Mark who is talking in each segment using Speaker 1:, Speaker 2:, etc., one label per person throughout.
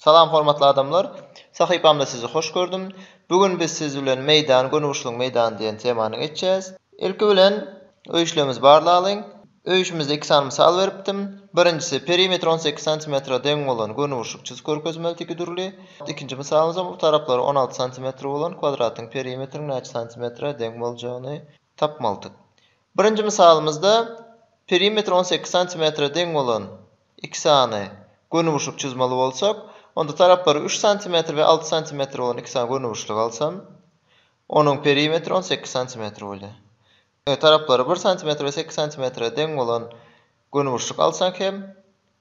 Speaker 1: Salam hormatly adamlar! Sahypamda sizi hoş gördüm. Bu gün biz siz bilen Meýdan, Gönüburçluň meýdany diýen temany geçýäs. Ilki bilen öýüşlerimizi barlalyň. Öýüşimizde iki sany mysal beripdim. Birinjisi, perimetri on sekiz santimetre deň bolan gönüburçluk çyzy körkezmeli tiki dürli. Ikinji mysalymyzam, utaraplary on alty santimetre bolan kwadratyň perimetriniň näçe santimetre deň boljagyny tapmalydyk. Birinji mysalymyzda perimetri on sekiz santimetre deň bolan iki sany gönüburçluk çyzmaly bolsak, onda taraplary üç santimetr we alty santimetr bolan iki sany gönüburçluk alsam, onuň perimetri on sekiz santimetr bolýar. Indi taraplary bir santimetr we sekiz santimetre deň bolan Gönüburçluk alsak hem,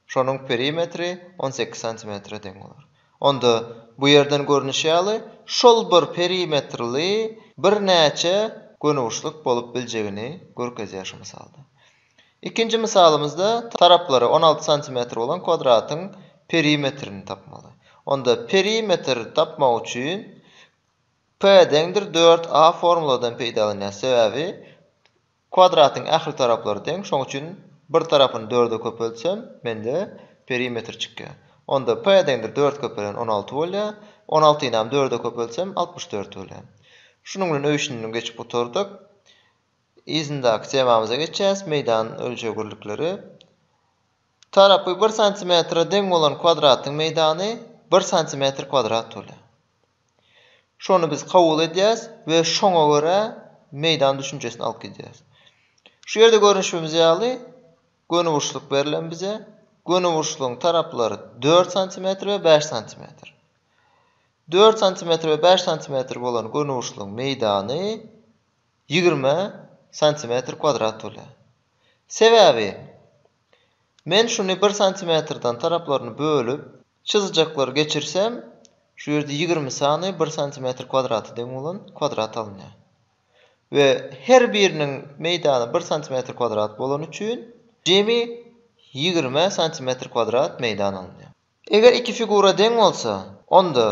Speaker 1: şonuň perimetri on sekiz santimetre deň bolar. Onda, bu ýerden görnüşi ýaly, şol bir perimetrli birnäçe gönüburçluk bolup biljegini görkezýär şu mysalda. Ikinji mysalymyzda taraplary on alty santimetr bolan kwadratyň perimetrini tapmaly. Onda perimetr tapmak üçin P deňdir dört A formuladan peýdalanýarys, sebäbi Kwadratyň ähli taraplary deň, şoň üçin bir tarapyny dörde köpeltsem, mende perimetr çykýar. Onda p deňdir dört köpelen on alty bolýar, on altynam dörde köpeltsem, altmyş dört bolýar. Şunuň bilen öýşünini geçip gutardyk. Yzyndaky temamyza geçýäs, meýdan ölçegirlikleri. Tarapy bir santimetre deň bolan kwadratyň meýdany bir santimetr kwadrat bolýar. Şony biz kabul edýäris we şoňa görä meýdan düşünjesini alyp gidýäris. Şu ýerde görnüşimiz ýaly gönüburçluk berlen bize. Gönüburçlugyň taraplary dört santimetr we bäş santimetr. Dört santimetr we bäş santimetr bolan gönüburçlugyň meýdany ýigrimi santimetr kwadrat bolýar. Sebäbi men şuny bir santimetrden taraplaryny bölüp, Çyzyjaklary geçirsem, şu ýerde ýigrimi sany bir santimetr kwadrata deň bolan kwadrat alynýar. We her biriniň meýdany bir santimetr kwadrat bolany üçin, jemi ýigrimi santimetr kwadrat meýdan alynýar. Eger iki figura deň bolsa, onda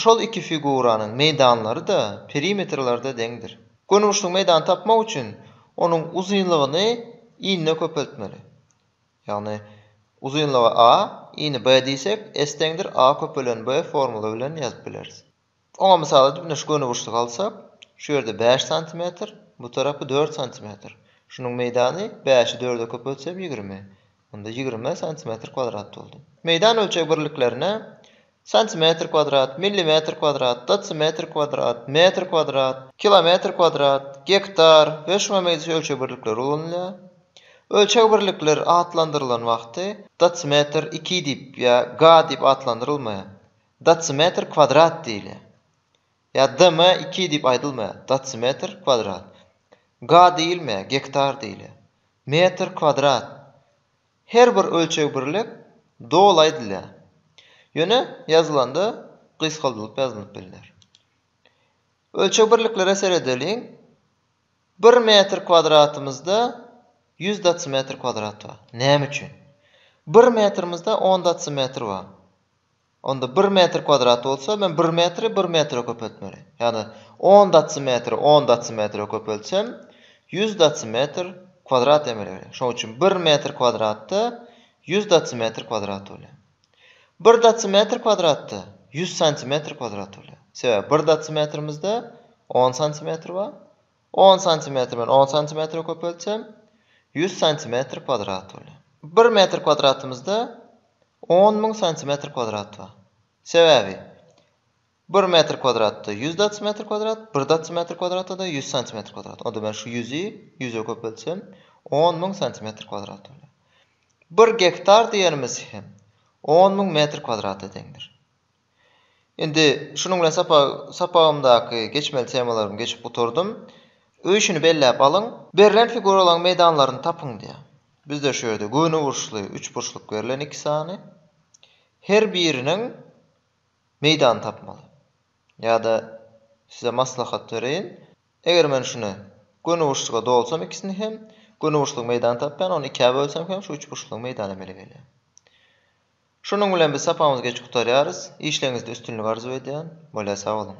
Speaker 1: şol iki figuranyň meýdanlary-da, perimetrleri-de deňdir. Gönüburçluň meýdany tapmak üçin, onuň uzynlygyny inine köpeltmeli. Ýagny, uzynlygy a, ini b diýsek, s deňdir a köpelen b formuly bilen ýazyp bileris. Oňa mysal edip ine şu gönüburçlygy alsak, şu ýerde bäş santimetr, bu tarapy dört santimetr. Şunuň meýdany bäşi dörde köpeltsem ýigrimi. Onda ýigrimi santimetr kwdrat boldy. Meýdan ölçeg birliklerine Santimetr kwadrat, millimetr kwadrat, dotsimetr kwadrat, metr kwadrat, kilometr kwadrat, gektar we şuňa meňzeş ölçeg birlikleri ulanylýar. Ölçeg birlikleri atlandyrylan wagty dotsimetr iki diýip ýa ga diýip atlandyrylmaýar. Dotsimetr kwadrat diýilýär. Ýa dm iki diýip aýdylmaýar. Dotsimetr kwadrat. Ga diýilmeýär, gektar diýilýär. Metr kwadrat. Her bir ölçeg birlik doly aýdylýar. Ýöne ýazylanda gysgaldylyp ýazylyp bilner. Ölçeg birliklere seredeliň. Bir metr kwadratymyzda ýüz datsimetr kwadrat bar. Näme üçin? Bir metrimizde on datsimetr bar. Onda bir metr kwadrat bolsa, men bir metri bir metre köpeltmeli. Ýagny, on datsimetri on datsimetre köpeltsem, ýüz datsimetr kwadrat emele gelýär. Şonuň üçin bir metr kwadratda ýüz datsimetr kwadrat bolýar. Bir datsimetr kwadratda ýüz santimetr kwadrat bolýar. Sebäbi bir datsimetrimizde on santimetr bar, On santimetr bilen on santimetre köpeltsem, ýüz santimetr kwadrat bolýar. Bir metr kwadratymyzda on müň santimetr kwadrat bar. Sebäbi bir metr kwadratda ýüz datsimetr kwadrat, bir datsimetr kwadratda-da ýüz santimetr kwadrat. Onda men şu ýüzi ýüze köpeltsem, on müň santimetr kwadrat bolýar. Bir gektar diýenimiz hem on müň metr kwadrata deňdir. Indi şunuň bilen sapak sapagymdaky geçmeli temalarymy geçip gutardym. Öýşüni belläp alyň. Berlen figuralaryň meýdanlaryny tapyň diýýär. Bizde şu ýerde göniburçly, üçburçluk berlen iki sany. Her biriniň meýdany tapmaly. Ýa-da size maslahat bereýin. Eger men şuny göniburçluga dolsam ikisini hem, göniburçlugyň meýdany tapýan, ony ikä bölsem hem şu üçburçlugyň meýdany emele gelýär. Şunuň bilen biz sapagymyzy geç gutarýarys. Işleriňizde üstünlik arzuw edýän. Bolýa sag boluň.